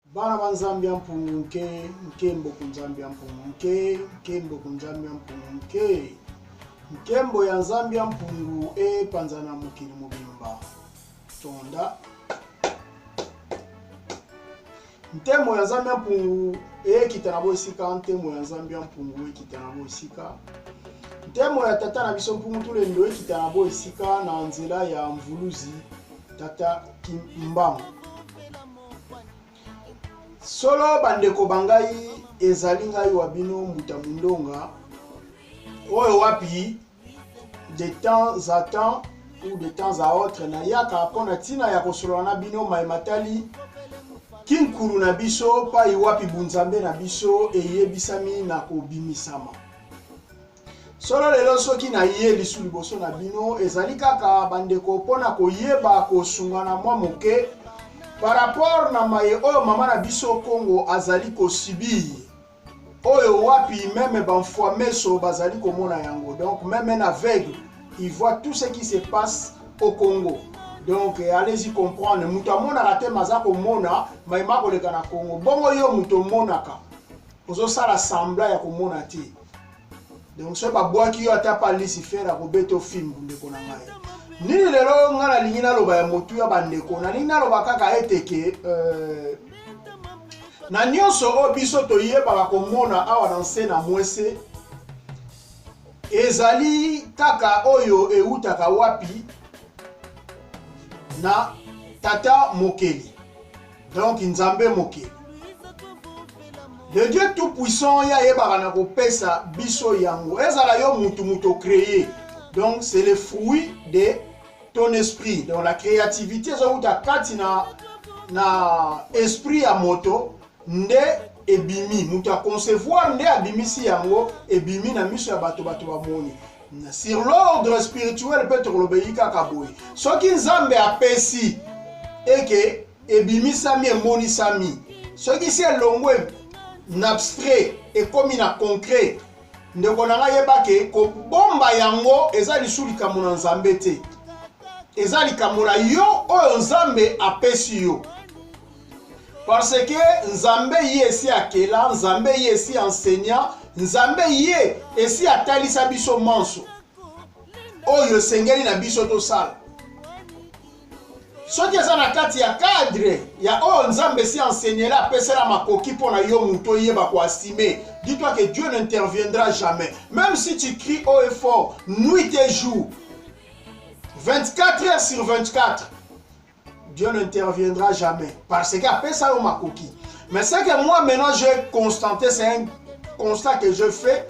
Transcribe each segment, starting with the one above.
Bana ba Nzambe ya mpungu nke, nkembo ku Nzambe ya mpungu nke, nkembo ku Nzambe ya mpungu nke. Nkembo ya Nzambe ya mpungu epanza na mokili mobimba. Tonda. Ntemo ya Nzambe ya mpungu ekita na boesika, ntemo ya Nzambe ya mpungu ekita na boesika. Ntemo ya tata na biso mpungu tulendo ekita na boesika na nzela ya mvuluzi tata Kimbangu. solo bandeko ba ngai ezali ngai wa bino mbuta mondonga oyo wapi de temps à temps ou de temps à autre nayaka mpo na ntina ya kosolola na bino mai matali kinkulu na biso pai wapi bunzambe na biso eyebisami na kobimisama solo lelo soki naye lisu liboso na bino ezali kaka bandeko mpo na koyeba kosungana mwa moke par rapport na maye oyo mama na biso congo azali kosibir oyo wapi meme bamfua meso bazali komona yango donc meme un aveugle il voit tout ce qui se passe au congo donc eh, allez-y comprendre moto amonaka te maza komona maye makoleka na congo bongo yo moto omonaka ozosala sembla ya komona te donc soki babwaki yo ata pa lucifer akobeta ofimbu ndeko na ngai nini lelo yo ngai nalingi naloba ya motu ya bandeko nalingi naloba kaka ete ke euh, na nyonso oyo biso toyebaka komona awa na nse na mwese ezali kaka oyo ewutaka wapi na tata mokeli Donc Nzambe mokeli. Le Dieu tout puissant ya yebaka na kopesa biso yango. Ezala yo mutu mutu créé. Donc c'est le fruit de ton esprit. Donc la créativité ezowuta kati na na esprit ya moto nde ebimi moto aconcevoir nde abimisi yango ebimi na miso ya bato bato bamoni sur l'ordre spirituel mpe tokolobeli kaka boye soki nzambe apesi eke ebimisami emonisami soki si elongwe na abstrait ekomi na concret ndeko na ngai yeba ke kobomba yango eza lisu likambo na nzambe te eza likambo na yo oyo nzambe apesi yo Parce que Nzambe ye esi akela, Nzambe ye esi enseignant, Nzambe ye esi atalisa biso manso oyo esengeli na biso tosala. soki eza na kati ya cadre ya oyo oh, nzambe si enseigner apesela makoki mpo na yo moto oyeba koasime dis-toi que dieu n'interviendra jamais même si tu cries haut et fort nuit et jour 24 heures sur 24 Dieu n'interviendra jamais parce que apesa yo makoki. Mais c'est que moi maintenant j'ai constaté, c'est un constat que je fais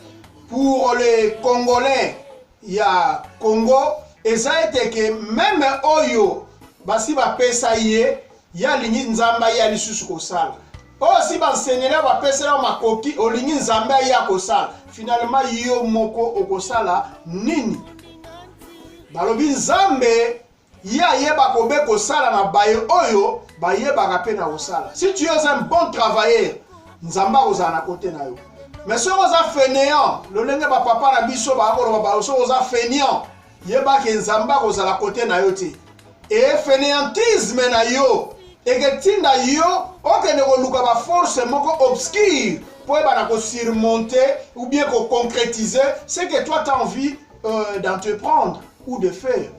pour les Congolais ya Congo, eza ete que même oyo basi bapesa ye ye alingi nzambe aye ya lisusu kosala oyo si bansenela bapesela yo makoki olingi nzambe aye ya kosala finalema yo moko okosala nini balobi nzambe Ye ayeba kobe kosala na baye oyo bayebaka pe na kosala. Si tu es un bon travailleur, Nzambe akozala na kote na yo. Mais soki oza fainéant, lolenge ba papa na biso bakoloba ba soki oza fainéant, yeba ke Nzambe akozala kote na yo te. Et fainéantisme na yo eketinda yo okende koluka ba force moko obscure pour eba na ko surmonter ou bien ko concrétiser ce que toi t'as envie euh, d'entreprendre ou de faire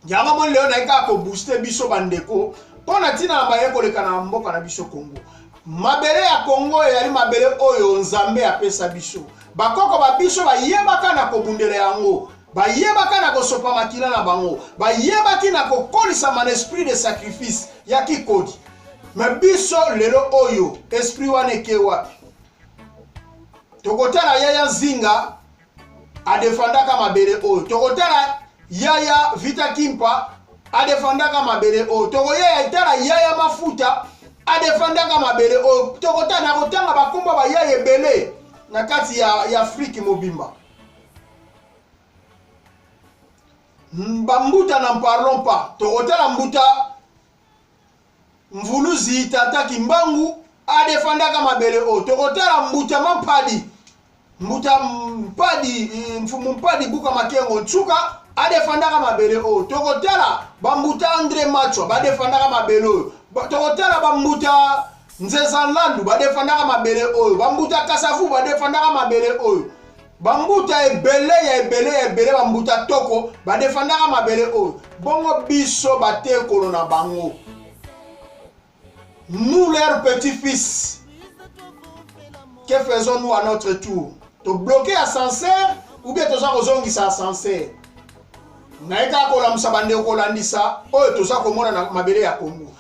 yango moni lelo naye kaka kobooste biso bandeko mpo na ntina na baye koleka na mboka na biso congo mabele ya congo eyali mabele oyo nzambe apesa biso bakoko ba biso bayebaka na kobundela yango bayebaka na kosopa makila na bango bayebaki na kokolisama na esprit de sacrifice ya kikodi me biso lelo oyo esprit wana eke wapi tokotala yaya nzinga adefandaka mabele oyo tokotala yaya vita kimpa adefandaka mabele oyo tokoyaya etala yaya mafuta adefandaka mabele oyo tokota na kotanga bakomba bayaya ebele na kati ya, ya afrike mobimba bambuta na parlon pa tokotala mbuta Mvuluzi tata kimbangu adefandaka mabele oyo tokotala mbuta mampadi mbuta mpadi eh, mfumu mpadi buka makengo nsuka adefandaka mabele oyo tokotala bambuta andre machwa badefandaka mabele oyo tokotala bambuta nzeza nlandu badefandaka mabele oyo bambuta kasavu badefandaka mabele oyo bambuta ebele ya ebele ya ebele bambuta toko badefandaka mabele oyo bongo biso batekolo na bango nous leur petit fils que faisons nous à notre tour tobloke ascenseur ou bien toza kozongisa ascenseur naye kaka kolamusa bandeko kolandisa oyo toza komona na mabele ya kongo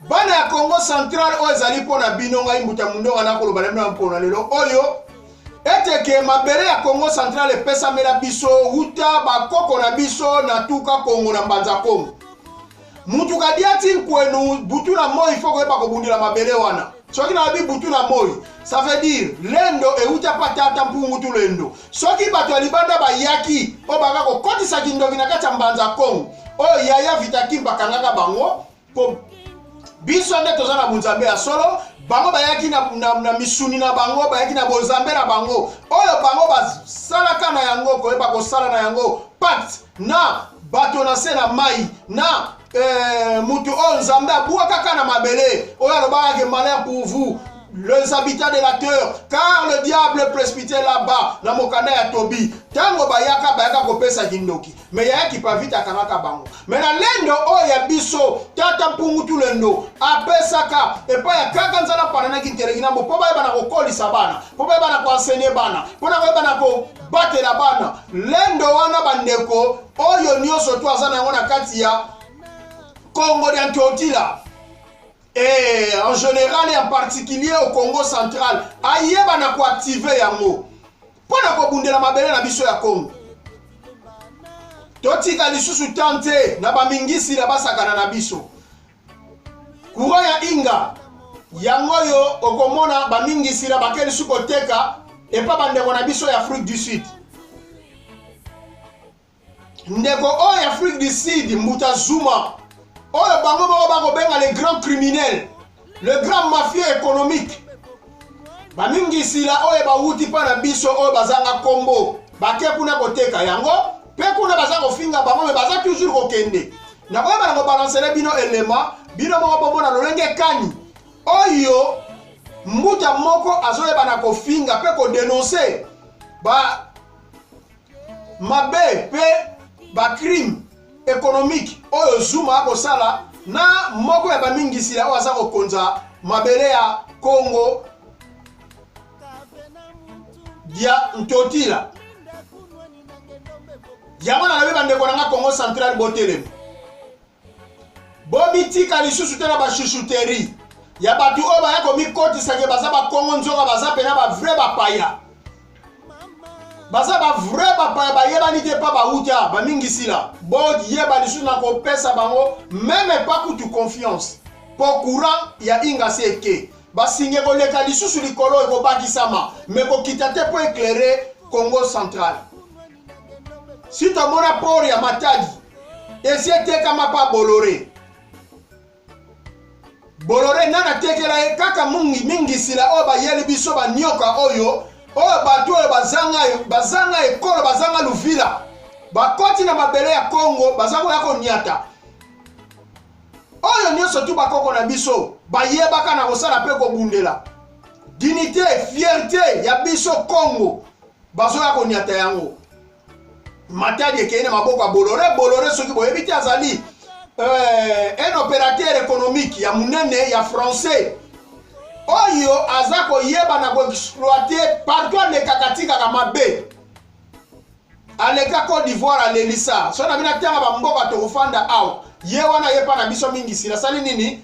bana ya congo central oyo ezali mpo na bino ngai mbuta mundonga nakoloba na bino ya mpona lelo oyo ete ke mabele ya congo central epesamela biso wuta bakoko na biso na tuka kongo na mbanza kongo mutu kadiati nkwenu butu na moi fo koyeba kobundela mabele wana soki nalobi butu na moi ça veut dire lendo euta pa tata mpungu tu lendo soki bato ya libanda bayaki oyo baka kokotisa kindoki na kati ya mbanza kongo oyo yaya vitakimba akangaka bango Comme biso nde toza na bonzambe ya solo bango bayaki na, na, na misuni na bango bayaki na bozambe na bango oyo bango basalaka na yango koyeba kosala na yango pacte na bato na se na mai na eh, moto oyo nzambe abwakaka na mabele oyo alobaka ke malheur pour vous les habitants de la terre car le diable prespite là-bas na mokanda ya tobi ntango bayaka bayaka kopesa kindoki me yaya kipavita akangaka bango me na lendo oyo ya biso tata mpungutu lendo apesaka epai ya kaka nzala pananaki nteleki na mbo mpo bayebana kokolisa bana mpo bayebana koensenye bana mpo na koyebana kobatela bana lendo wana bandeko oyo nyonso to aza na yango na kati ya kongo dia ntotila e en général en particulier au congo central ayebana koactive yango mpo na kobundela mabele na biso ya Congo. Totika lisusu temps te na bamingisi na basakana na biso. Courant ya Inga yango oyo okomona bamingisi na bake lisusu koteka epa bandeko na biso ya Afrique du Sud. ndeko oyo ya afrique du sud mbuta zuma oyo bango moko bakobenga le grand criminel le grand mafieux économique bamingisila oyo bawuti mpa na biso oyo bazanga nkombo bake kuna koteka yango mpe kuna baza kofinga bango me baza toujours kokende nakoyeba na kobalansele bino elema bino moko bomona lolenge kani oyo mbuta moko azoyeba na kofinga mpe kodenonse ba mabe mpe bacrime économique oyo zuma akosala na moko ya bamingisila oyo aza kokonza mabele ya congo dia ntotila yango nalobi bandeko na nga congo central botelema bomitika lisusu te na bashushuteri ya bato oyo baya komikotisa ke baza bakongo nzoka baza mpena bavrai bapaya baza bavrai bapaya bayebani te mpa bauta bamingisila boyeba lisusu na kopesa bango meme epa kutu confiance mpo courant ya ingasi eke basinge koleka lisusu likolo ekobakisama me kokita te mpo eklere congo central si tomona port ya matadi esi etekama pa bolore bolore nani atekela ye kaka mingi mingi sila oyo bayeli biso banioka oyo oyo bato oyo bazanga bazanga ekolo bazanga luvila bakoti na mabele ya kongo baza koya konyata oyo nyonso tu bakoko na biso bayebaka na kosala mpe kobundela dinite fierte ya biso kongo bazoya konyata yango matadi ekei na maboko ya bolore bolore soki boyebi te azali euh, un opérateur économique ya monene ya français oyo aza koyeba na koexploite partout alekaka atikaka mabe aleka cote d'ivoire alelisa so na bino atanga bamboka tokofanda awa ye wana yepa na biso mingi sila asali nini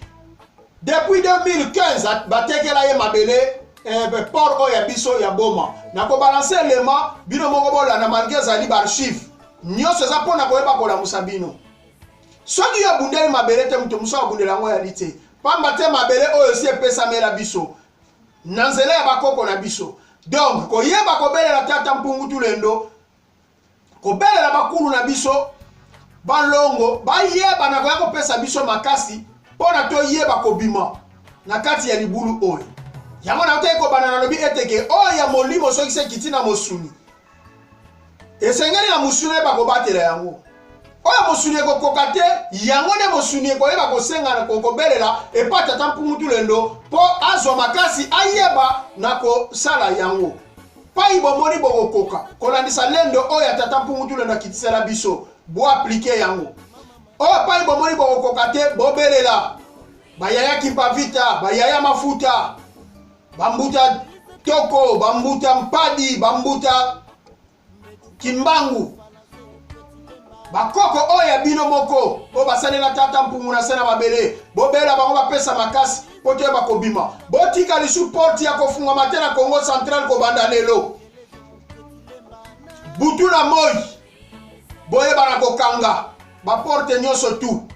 depuis 2015 batekela ye mabele eh, port oyo ya biso ya boma na kobalanse elema bino moko bolanda malgre ezali baarchive nyonso eza mpo na koyeba kolamusa bino soki yo abundeli mabele te moto mosusu abundela yango yali te mpamba te mabele oyo esi epesamela biso na nzela ya bakoko na biso donc koyeba kobelela tata mpungu tulendo kobelela bakulu na biso balongo bayeba na koya kopesa biso makasi mpo na toyeba kobima na kati ya libulu oyo yango na toyei kobanda nalobi ete ke oyo ya molimo soki se ekiti na mosuni esengeli na mosuni oyeba kobatela yango oyo mosuni ekokoka te yango nde mosuni ekoyeba kosengana kokobelela epa tata mpungutu lendo mpo azwa makasi ayeba na kosala yango Pai bomoni bokokoka kolandisa lendo oyo ya tata mpungu tule na kitisela biso bo aplike yango oyo pai bomoni bokokoka te bobelela bayaya kimpavita bayaya mafuta bambuta toko bambuta mpadi bambuta kimbangu bakoko oyo ya bino moko oyo basalela tata mpungu na se na mabele bobela bango bapesa makasi mpo te bakobima botika lisu porte ya kofungama te na congo central kobanda lelo butu na moi boyebana kokanga baporte nyonso tu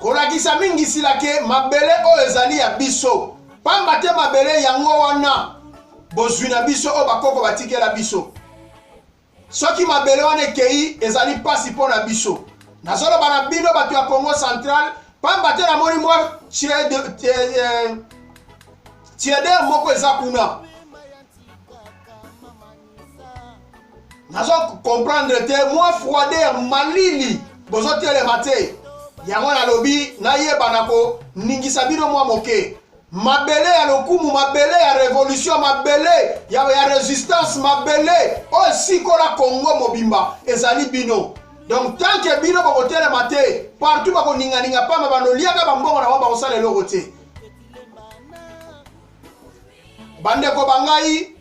kolakisa mingi sila ke mabele oyo ezali ya biso pamba te mabele yango wana bozwi na biso oyo bakoko batikela biso Soki mabele wana ekei, ezali mpasi mpo na biso. Nazoloba na bino bato ya Congo Central, pamba te namoni mwa tieder moko eza kuna. nazo comprendre te mwa froideur malili bozotelema te yango nalobi nayeba na koningisa bino mwa moke mabele ya lokumu mabele ya revolution mabele ya, ya resistance mabele oyo esikola kongo mobimba ezali bino donc tant que bino bokotelema te partout bakoninganinga pamba banoliaka bambongo na bango bakosala eloko te bandeko ba ngai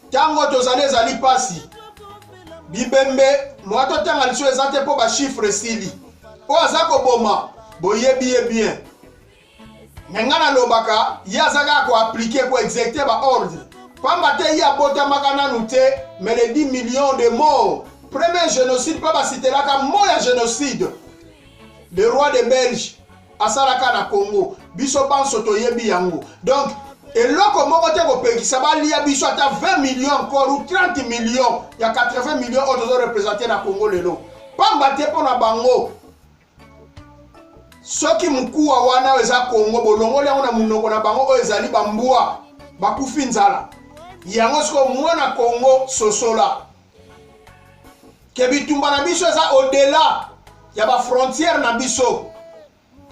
ntango tozali ezali mpasi bibembe moya totanga liso eza te mpo bashifre esili oyo aza koboma boyebi ye bien me ngai nalobaka ye aza kaka koaplike koexecute baordre pamba te ye abotamaka nanu te me le 10 million de mort premier génocide mpo basitelaka mo ya génocide le roi de belge asalaka na congo biso banso toyebi yango donc eloko moko te kopekisa balia biso ata 20 million encore ou 30 million ya 80 million oyo tozo represente na congo lelo pamba te mpo na bango soki mokuwa wana oyo eza kongo bolongoli yango na monoko na bango oyo ezali bambwa bakufi nzala yango sikoyo mwana kongo sosola ke bitumba na biso eza odela ya bafrontière na biso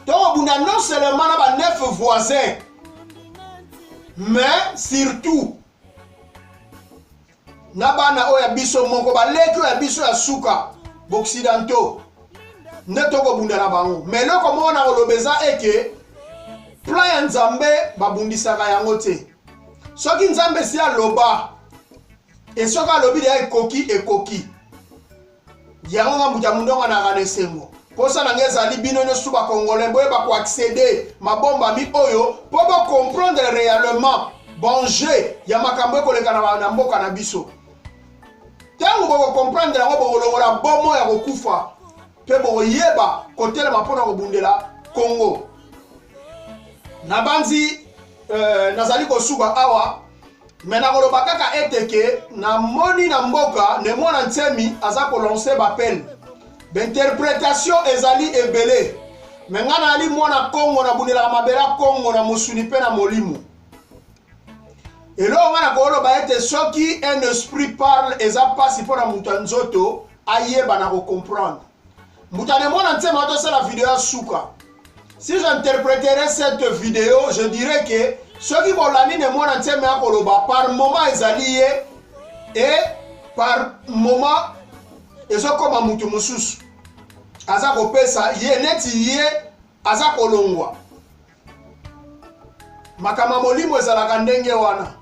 tokobunda non seulement na ba neuf voisin mais surtout na bana oyo ya biso moko baleki oyo ya biso ya suka baoccidentaux nde tokobunda na bango ma eloko moko na koloba eza eke plan ya nzambe babundisaka yango te soki nzambe esi aloba esoki alobi deya ekoki ekoki yango nga moto ya mondonga na rana esengo mposa na ngai ezali bino nyonso bakongolais boyeba koaccede mabombami oyo mpo bocomprendre réellement bonje ya makambo ekoleka na mboka na biso ntango bokokomprendre yango bokolongola bomo ya kokufa mpe bokoyeba kotelema mpo na kobundela kongo nabanzi euh, nazali kosuka awa me nakoloba kaka ete ke namoni na mboka ne mwana nsemi aza kolance bapene bainterpretation ezali ebele me ngai naali mwana kongo nabundelaka mabele ya kongo na mosuni mpe na molimo eloko ngai nakoloba ete soki un esprit parle eza mpasi mpo na moto ya nzoto ayeba na kocomprendre moto anemona nsema atosala video ya suka si j'interpreterai cette video je dirais que soki bolandi nemona nsema ya koloba par moment ezali ye e par moment ezokoma moto mosusu aza kopesa ye neti ye aza kolongwa makambo ya molimo ezalaka ndenge wana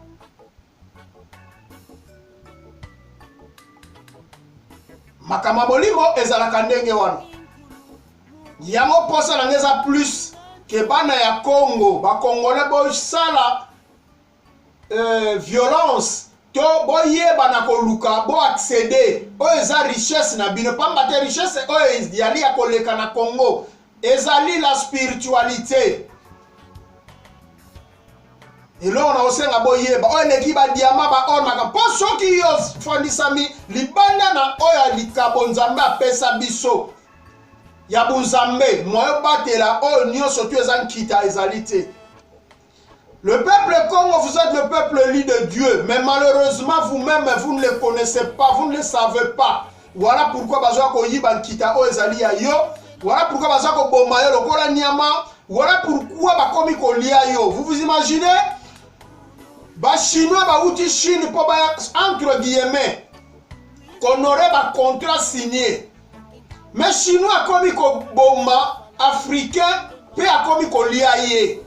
makambo ya bolingo ezalaka ndenge wana yango mposa na ngai eza plus ke bana ya congo bakongole bosala euh, violence to boyebana koluka boaccede oyo eza richesse na bino mpamba te richesse oyo ezali ya koleka na congo ezali la spiritualite eloko na kosenga boyeba oyo eleki badiama baornaka mpo soki yo ofandisami libanda na oyo ya likabo nzambe apesa biso ya bonzambe moyo batela oyo nyonso to eza nkita ezali te Le peuple Congo, vous êtes le peuple élu de Dieu, mais malheureusement vous-même, vous ne le connaissez pas, vous ne le savez pas. Voilà pourquoi baza koyiba nkita oyo ezali ya yo. Voilà pourquoi baza koboma yo lokola nyama. Voilà pourquoi bakomi kolia yo. Vous vous imaginez? Ba Chinois bauti Chine mpo baya entre guillemets konorer ba contrat signé mais chinois akomi koboma africain mpe akomi kolia ye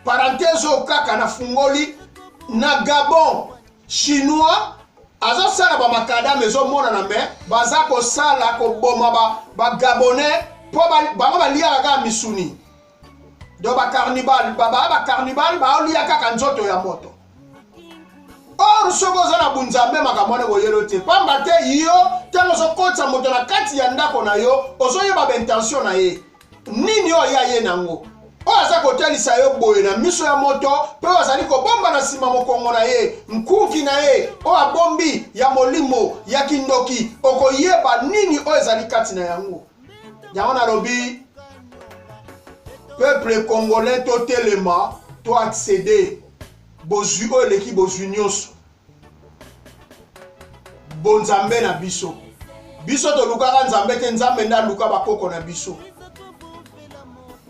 parenthèse oyo kaka nafungoli na gabon chinois azosala bamakadame ezomonana me baza kosala koboma bagabonais ba mpo bango baliaka kaka misuni do bacarnibal baba bacarnibal baolia kaka nzoto ya moto or soki oza na bunzambe makambo wana ekoyelo te mpamba te yo ntango ozokotisa moto na kati ya ndako na yo ozoyeba baintention na ye nini oyo ya ye nango oyo aza kotalisa yo boye na miso ya moto mpe oyo azali kobomba na nsima mokongo na ye nkuki na ye oyo abombi ya molimo ya kindoki okoyeba nini oyo ezali kati na yango yango nalobi peuple congolais totelema to accéder bozwi oyo eleki bozwi nyonso bonzambe na biso biso tolukaka nzambe te nzambe nde aluka bakoko na biso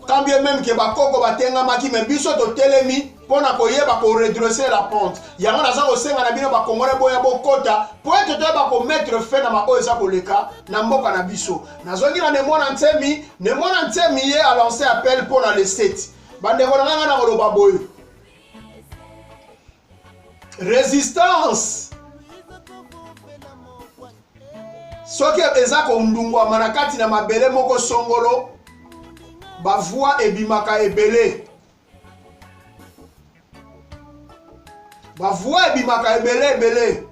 quand bien même ke bakoko batengamaki me biso totelemi mpo na koyeba koredresse la pente yango naza kosenga na bino bakongole boya bokota mpo ete toyeba komettre fin na baoyo eza koleka na mboka na biso nazongi na nemona nsemi nemona nsemi ye alance appel mpo na leseti bandeko na nganga na koloba boye resistance soki eza kondungwama na kati na mabele moko songolo bavoi ebimaka ebele bavua ebimaka ebele ebele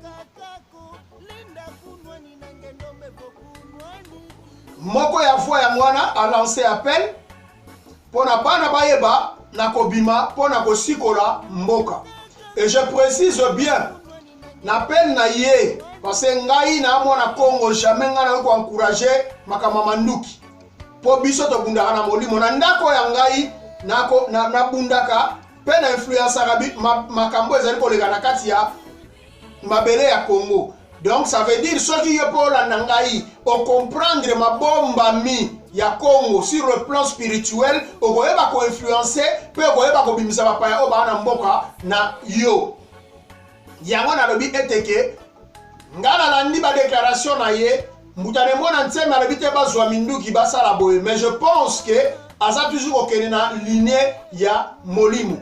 moko ya voi yango wana alance appel mpo na bana bayeba na kobima mpo na kosikola mboka et je précise bien na pene na ye parce ngai na mwana congo jamais ngai nayoki koencourage makambo ya manduki mpo biso tobundaka na molimo na ndako ya ngai nabundaka na, na mpe na influensaka ma, makambo ezali koleka na kati ya mabele ya congo donc ça veut dire soki yo mpo olanda ngai ocomprendre mabombami ya congo sur le plan spirituel okoyeba koinfluence mpe okoyeba kobimisa bapaya oyo baa na mboka na yo Yango nalobi ete ke nga nalandi ba declaration na ye mbuta ne mwana nsemi alobi te bazwa minduki basala boye mais je pense ke aza toujours kokende na linie ya molimo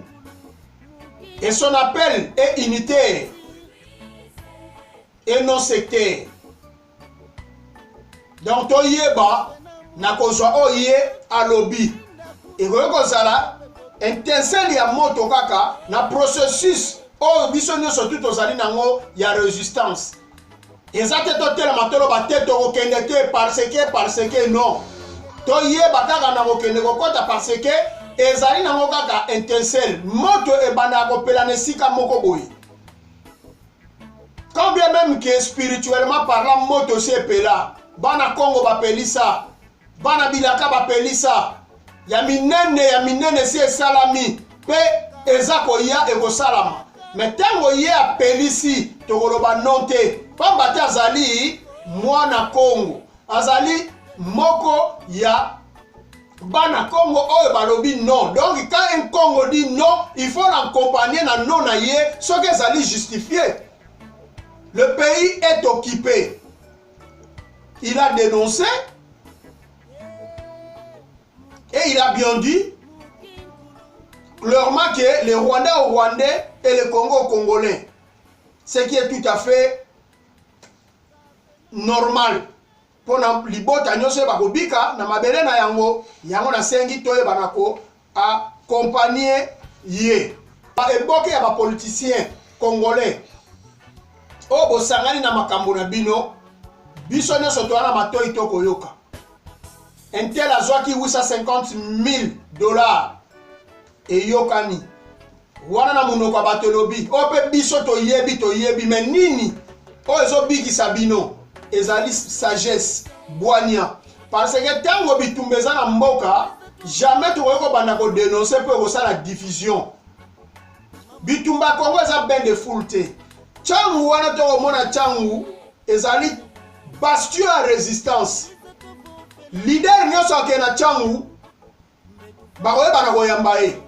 et son appel est unitaire et non sectaire donc toyeba na kozwa oyo ye alobi ekoki kozala intensele ya moto kaka na processus oyo biso nyonso tu tozali nango ya resistance eza te totelema toloba te tokokende te parce que parce que non toyeba kaka na kokende kokɔta parce que ezali nango kaka intensele moto ebandaka kopela na esika moko boye quand bien même que spirituellement parlant moto si epela bana congo bapelisa bana bilaka bapelisa ya minene ya minene si esalami mpe eza koya ekosalama me ntango ye apelisi tokoloba non te mpamba te azali mwana kongo azali moko ya bana Congo oyo balobi non donc quand un Congo dit non il faut l'accompagner na non na ye soki ezali justifié le pays est occupé il a dénoncé et il a bien dit clairement que les Rwandais aux Rwandais et les Congo aux Congolais ce qui est tout à fait normal mpo na libota nyonso oyo bakobika na mabele na yango yango nasengi toyeba na ko accompagne ye eboke ya bapoliticien congolais oyo bosangani na makambo na bino biso nyonso toya na matoi to koyoka intel azwaki 850 000 dollars eyokani wana na monoko ya bato elobi oyo mpe biso toyebi toyebi me nini oyo ezobikisa bino ezali sagesse bwania parce que ntango bitumba eza na mboka jamais tokoki kobanda kodenonse mpe kosala diffusion bitumba kongo eza bain de foule te ntango wana tokomona ntango ezali bastion ya resistance lider nyonso akee na ntango bakoyebana koyamba ye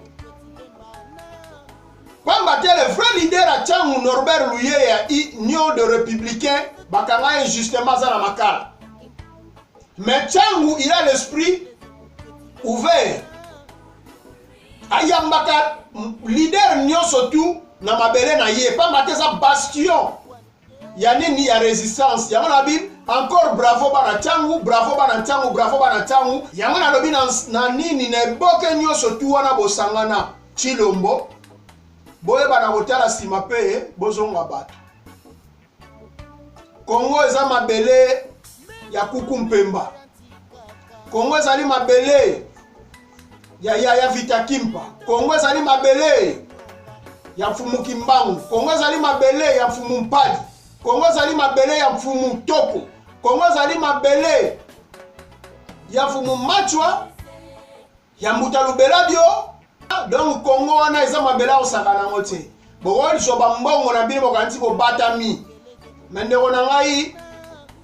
pamba te le vrai leader ya ntango norbert luye ya union de républicain bakanga ye justement aza na makala mais ntango il a l'esprit ouvert ayambaka leader nyonso tu na mabele na ye pamba te eza bastion ya nini ya resistance yango na bible encore bravo bana ntango bravo bana ntango bravo bana ntango yango nalobi na, na nini na eboke nyonso tu wana bosangana chilombo boyeba na kotala nsima mpe bozonga bato kongo eza mabele ya kuku mpemba kongo ezali mabele ya, ya, ya vita kimpa kongo ezali mabele ya mfumu kimbangu kongo ezali mabele ya mfumu mpadi kongo ezali mabele ya mfumu toko kongo ezali mabele ya mfumu machwa ya mbuta lubela bio donc kongo wana eza mabele akosaka nango te bokoliswa bambongo na bino bokanisi bobatami me ndeko na ngai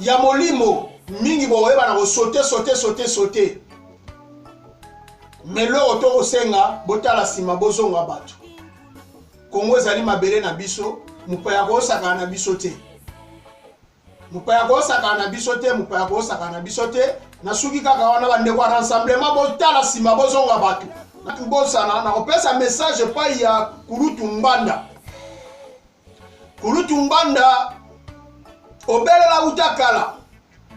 ya molimo mingi bokoyeba na kosote sote sote sote me eloko tokosenga botala nsima bozonga bato kongo ezali mabele na biso mopaya koosaka na biso te mopaya koosaka na biso te mopaya koosaka na biso te nasuki kaka wana bandeko ya rassemblement botala nsima bozonga bato nakobosana nakopesa message epai ya kulutu mbanda kulutu ngbanda obelela uta kala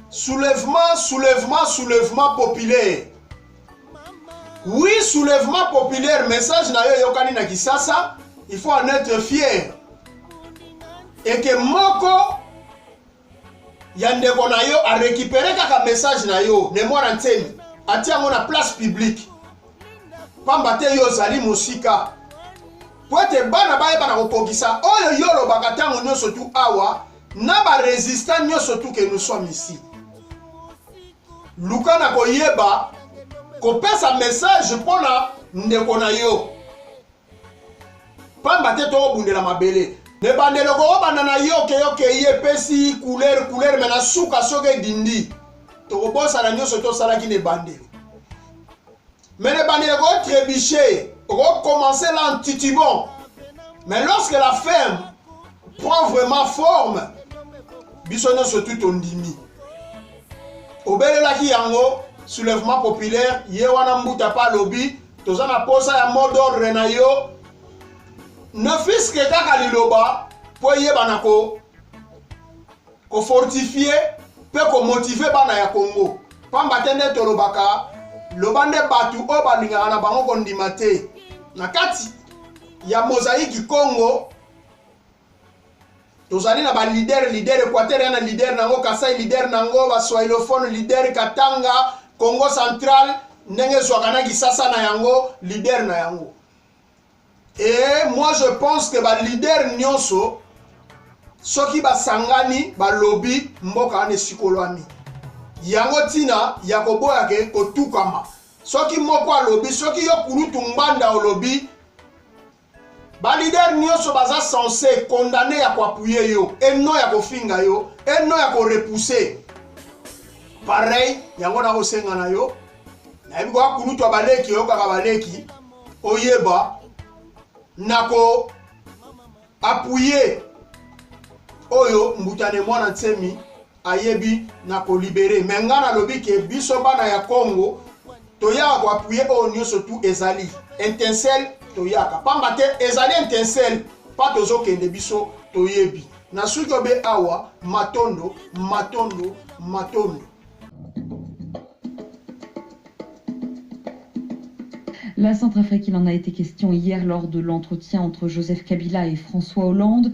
soulèvement soulèvement soulèvement populaire oui soulèvement populaire message na yo eyokani na kisasa il faut en être fier eke moko ya ndeko na yo a récupérer kaka message na yo ne mwana nsemi atia yango na place publique pamba te yo ozali mosika mpo ete bana bayeba na kokokisa oyo yo olobaka ntango nyonso tu awa na baresistant nyonso tu ke nous sommes ici luka na koyeba kopesa message mpo na ndeko na yo pamba te tokobundela mabele na ebandelo kobanda na yo okeyi okeyi epesi couleur couleur me na suka soki edindi tokobosana nyonso tosalaki na ebandelo me na ebandelo kotrebuche okokomense la ntitibon mais lorsque la ferme prend vraiment forme biso nyonso tu tondimi obelelaki yango soulèvement populaire ye wana mbuta pa alobi toza na posa ya mot d'ordre na yo ne fils que kaka liloba mpo eyebana ko kofortifie mpe komotive bana ya kongo mpamba te nde tolobaka loba nde bato oyo balingaka na bango kondima te na kati ya mozaiki kongo tozali na balider lider equateur ya na lider na yango kasai lider na yango baswahilophone lider katanga congo central ndenge ezwaka na kisasa na yango lider na yango e moi je pense que balider nyonso soki basangani balobi mboka wana esikolwami yango ntina ya koboya ke kotukama soki moko alobi soki yo kulutu ngbanda olobi Ba leader nioso baza sense condamne ya koapuye yo et non ya kofinga yo et non ya korepousser pareil yango nakosenga na yo nayebi koya kulutu ya baleki oyokaka baleki oyeba na ko apuye oyo mbutane mwana nsemi ayebi na ko libere me nga nalobi ke biso bana ya congo toyaka koapuye oyo nyonso tu ezali intensel toyaka pamba te ezali intensel pa tozokende biso toyebi na suki obe awa matondo matondo matondo La Centrafrique, il en a été question hier lors de l'entretien entre Joseph Kabila et François Hollande.